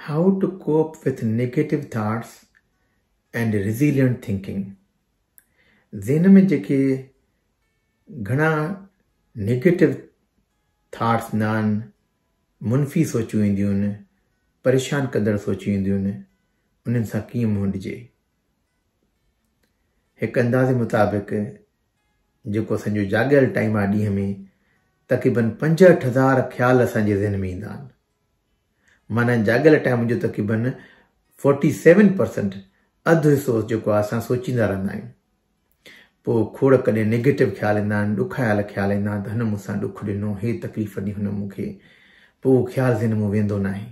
How to Cope with Negative Thoughts and Resilient Thinking ذهن ۾ جيڪي گهڻا نيگيٽو ٿاٽس هوندا آهن، منفي سوچون اينديون آهن، پريشان ڪندڙ سوچون اينديون آهن، انهن سان ڪيئن منهن ڏجي. هڪ اندازي مطابق جيڪو اسان جو جاڳيل ٽائيم آهي ڏينهن ۾ تقريبن پنجهٺ هزار خيال اسان جي ذهن ۾ ايندا آهن. معنيٰ هن جا اڳ لٽايا منهنجو تقريبن فورٽي سيون پرسنٽ اڌ حصو جيڪو آهي اسان سوچيندا رهندا آهيون پوء کوڙ ڪڏهن نيگيٽو خيال ايندا آهن ڏکايل خيال ايندا آهن ته هن مون سان ڏک ڏنو هي تڪليف ڏني هن مون کي پوء اهو خيال ذهن مون ويندو نه آهي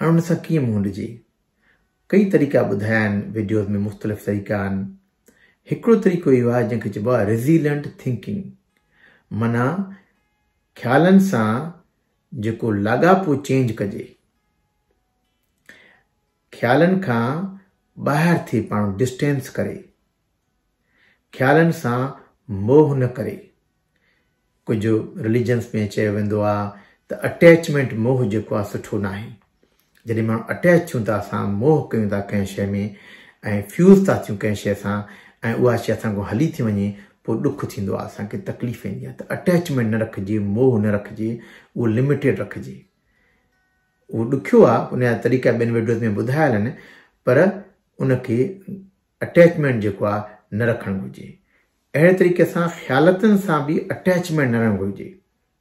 هاڻي ان سان ڪيئن منهن ڏجي ڪئي طريقا ٻڌايا آهن ويڊيوز ۾ مختلف طريقا آهن هڪڙو طريقو اهو آهي جنهن کي چئبو آهي ريزيلنٽ ٿنڪنگ معنيٰ خيالن سان جيڪو لاڳاپو چينج ڪجي خيالن کان ٻاهر ٿي پاڻ ڊسٽينس ڪري خيالن سان موه نه ڪري ڪجهه رليجنس ۾ چيو ويندو آ ته اٽيچمينٽ موه جيڪو آ سٺو ناهي جڏهن ماڻهو اٽيچ ٿيون ته اسان موهه ڪيون ٿا ڪنهن شيء ۾ ۽ فيوز ٿا ٿيون ڪنهن شيء سان ۽ اها شيء اسان کان هلي ٿي وڃي پوء ڏک ٿيندو آهي اسان کي تڪليف ايندي آهي ته اٽيچمينٽ نه رکجي موهه نه رکجي اهو لميٽيڊ رکجي اهو ڏکيو آهي ان جا طريقا ٻين ويڊيوز ۾ ٻڌايل آهن پر ان کي اٽيچمينٽ جيڪو آهي نه رکڻ گهرجي اهڙي طريقي سان خيالتن سان به اٽيچمينٽ نه رهڻ گهرجي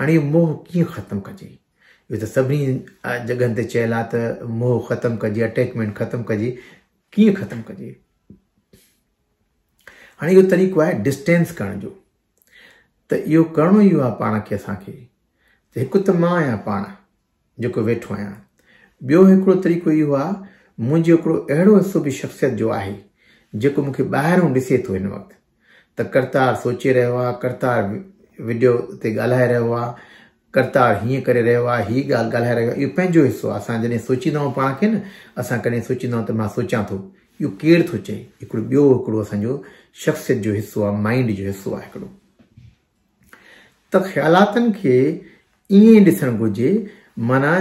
هاڻي اهو موهه ڪيئن ختم ڪجي؟ اهو ته سڀني جڳهن تي چيل آهي ته موهه ختم ڪجي، اٽيچمينٽ ختم ڪجي، ڪيئن ختم ڪجي؟ هاڻي اهو طريقو آهي ڊسٽينس ڪرڻ جو ته اهو ڪرڻو ئي آهي پاڻ کي اسان کي هڪ ته مان آهيان پاڻ جيڪو ويٺو آهيان. ٻيو هڪڙو طريقو اهو آهي، منهنجو هڪڙو اهڙو حصو به شخصيت جو آهي، جيڪو مون کي ٻاهرئون ڏسي ٿو هن وقت ته ڪرتار سوچي رهيو آهي، ڪرتار وڊيو تي ڳالهائي رهيو آهي، ڪرتار هيئن ڪري رهيو آهي، هي ڳالهه ڳالهائي رهيو آهي، اهو پنهنجو حصو آهي، اسان جڏهن سوچيندا آهيون پاڻ کي نه، اسان ڪڏهن سوچيندا آهيون ته مان سوچيان ٿو، اهو ڪير ٿو چئي، هڪڙو ٻيو هڪڙو اسان جو شخصيت جو حصو آهي، مائينڊ جو حصو آهي هڪڙو. ته خيالاتن کي ائين ڏسڻ گهرجي معنيٰ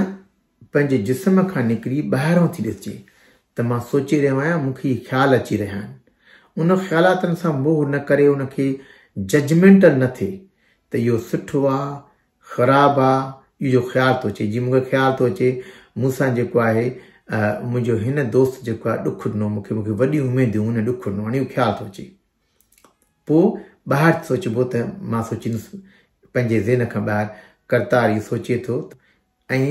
پنهنجي جسم کان نڪري ٻاهران ٿي ڏسجي ته مان سوچي رهيو آهيان مون کي هي خيال اچي رهيا آهن ان خيالاتن سان موهه نه ڪري ان کي ججمينٽل نه ٿئي ته اهو سٺو آ خراب آ اهو جو خيال ٿو اچي جي مون کي خيال ٿو اچي مون سان جيڪو آهي منهنجو هن دوست جيڪو آهي ڏک ڏنو مون کي مون کي وڏيون اميديون هن ڏک ڏنو هاڻي اهو خيال ٿو اچي پوء ٻاهر سوچبو ته مان سوچيندس پنهنجي ذهن کان ٻاهر ڪرتار اهو سوچي ٿو ۽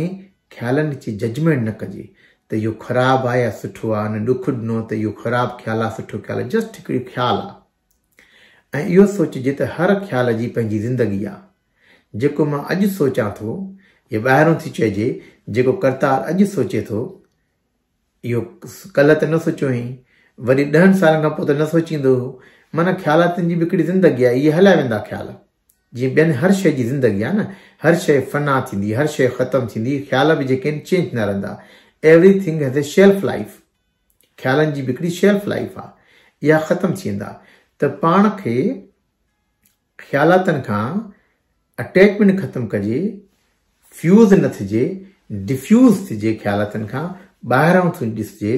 خيالن جي ججمينٽ نه ڪجي ته اهو خراب آهي يا سٺو آهي ان ڏک ڏنو ته اهو خراب خيال آهي سٺو خيال آهي جسٽ هڪڙي خيال آهي ۽ اهو سوچجي ته هر خيال جي پنهنجي زندگي آهي جيڪو مان اڄ سوچان ٿو يا ٻاهرون ٿي چئجي جيڪو ڪرتار اڄ سوچي ٿو اهو ڪلهه ته نه سوچيو هئين، وري ڏهن سالن کان پوء ته نه سوچيندو هو. معنيٰ خيالاتن جي به هڪڙي زندگي آهي، اهي هليا ويندا خيال. جيئن ٻين هر شيء جي زندگي آهي نه، هر شيء فنا ٿيندي، هر شيء ختم ٿيندي، خيال به جيڪي آهن چينج ٿيندا رهندا. Everything has a shelf life. خيالن جي به هڪڙي شيلف لائيف آهي، اها ختم ٿي ويندا ته پاڻ کي. خيالاتن کان اٽيچمينٽ ختم ڪجي، فيوز نه ٿجي، ڊفيوز ٿجي خيالاتن کان ٻاهران ٿو ڏسجي،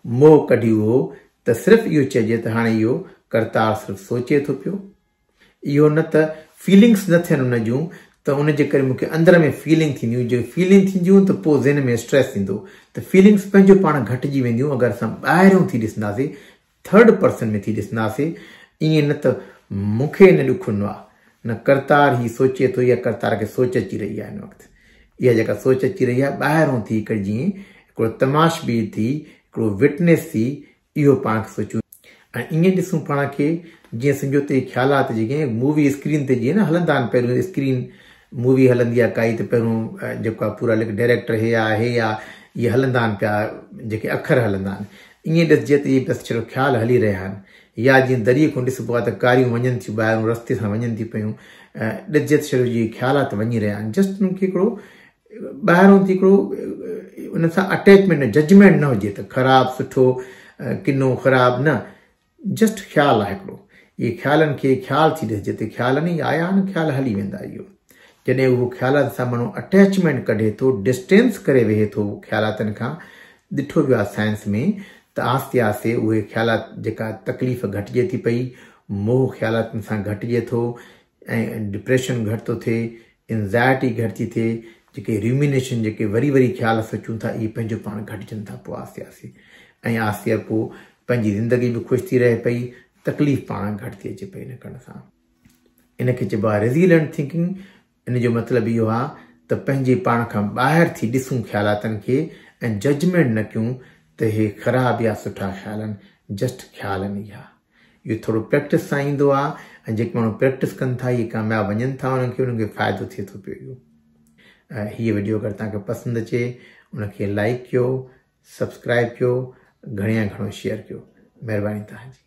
موهه ڪڍيو هو ته صرف اهو چئجي ته هاڻي اهو ڪرتار صرف سوچي ٿو پيو، اهو نه ته فيلنگس نه ٿين ان جون ته ان جي ڪري مون کي اندر ۾ فيلنگ ٿينديون، جي فيلنگ ٿينديون ته پوء ذهن ۾ اسٽريس ايندو ته فيلنگس پنهنجو پاڻ گهٽجي وينديون اگر اسان ٻاهران ٿي ڏسنداسين ٿرڊ پرسن ۾ ٿي ڏسنداسين، ائين نه ته مون کي نه ڏک هوندو آهي، نه ڪرتار هي سوچي ٿو يا ڪرتار کي سوچ اچي رهي آهي هن وقت. اها جيڪا سوچ اچي رهي آهي، ٻاهرئون ٿي هڪڙي جيئن هڪڙو تماشبين ٿي، هڪڙو وٽنيس ٿي، اهو پاڻ کي سوچون. ۽ ائين ڏسون پاڻ کي، جيئن سمجهوتي جي خيالات جيڪي مووي اسڪرين تي جيئن نه هلندا آهن، پهريون اسڪرين مووي هلندي آهي ڪائي ته پهريون جيڪو آهي پورا لک ڊائريڪٽر هي آهي هي آهي، اهي هلندا آهن پيا، جيڪي اکر هلندا آهن، ائين ڏسجي ته اهي بس ڇڙو خيال هلي رهيا آهن يا جيئن دريء کان ڏسبو آهي ته ڪاريون وڃن ٿيون ٻاهرون رستي سان وڃن ٿيون پيون ڏسجي ته ڇڙو جيئن خيالات وڃي رهيا آهن جسٽ انهن کي هڪڙو ٻاهرون ٿي هڪڙو ان سان اٽيچمينٽ نه ججمينٽ نه هجي ته خراب سٺو ڪنو خراب نه جسٽ خيال آ هڪڙو. اهي خيالن کي خيال ٿي ڏس جتي خيالن ئي آيا آهن خيال هلي ويندا اهو جڏهن اهو خيالاتن سان مڻهو اٽيچمينٽ ڪڍي ٿو ڊسٽينس ڪري ويهي ٿو خيالاتن کان ڏٺو ويو آهي سائنس ۾ ته آهستي آهستي اهي خيالات جيڪا تڪليف گهٽجي ٿي پئي موهه خيالاتن سان گهٽجي ٿو ۽ ڊپريشن گهٽ ٿو ٿئي انزائٽي گهٽ ٿي ٿئي جيڪي ريومينيشن جيڪي وري وري خيال سوچون ٿا اهي پنهنجو پاڻ گهٽجن ٿا پوء آهستي آهستي ۽ آهستي پوء پنهنجي زندگي به خوش ٿي رهي پئي تڪليف پاڻ گهٽ ٿي اچي پئي ان ڪرڻ سان ان کي چئبو آهي ريزيلنٽ ٿينڪنگ ان جو مطلب اهو آهي ته پنهنجي پاڻ کان ٻاهر ٿي ڏسون خيالاتن کي ۽ ججمنٽ نه ڪيون ته هي خراب يا سٺا خيال آهن جسٽ خيال آهن اها اهو ٿورو پريڪٽس سان ايندو آهي ۽ جيڪي ماڻهو پريڪٽس ڪن ٿا اهي ڪامياب وڃن ٿا انهن کي انهن کي فائدو ٿئي ٿو پيو اهو هيء وڊيو اگر تان کي پسند اچي ان کي لائڪ ڪيو سبسڪرائب ڪيو گهڻي يا گهڻو شيئر ڪيو مهرباني تان جي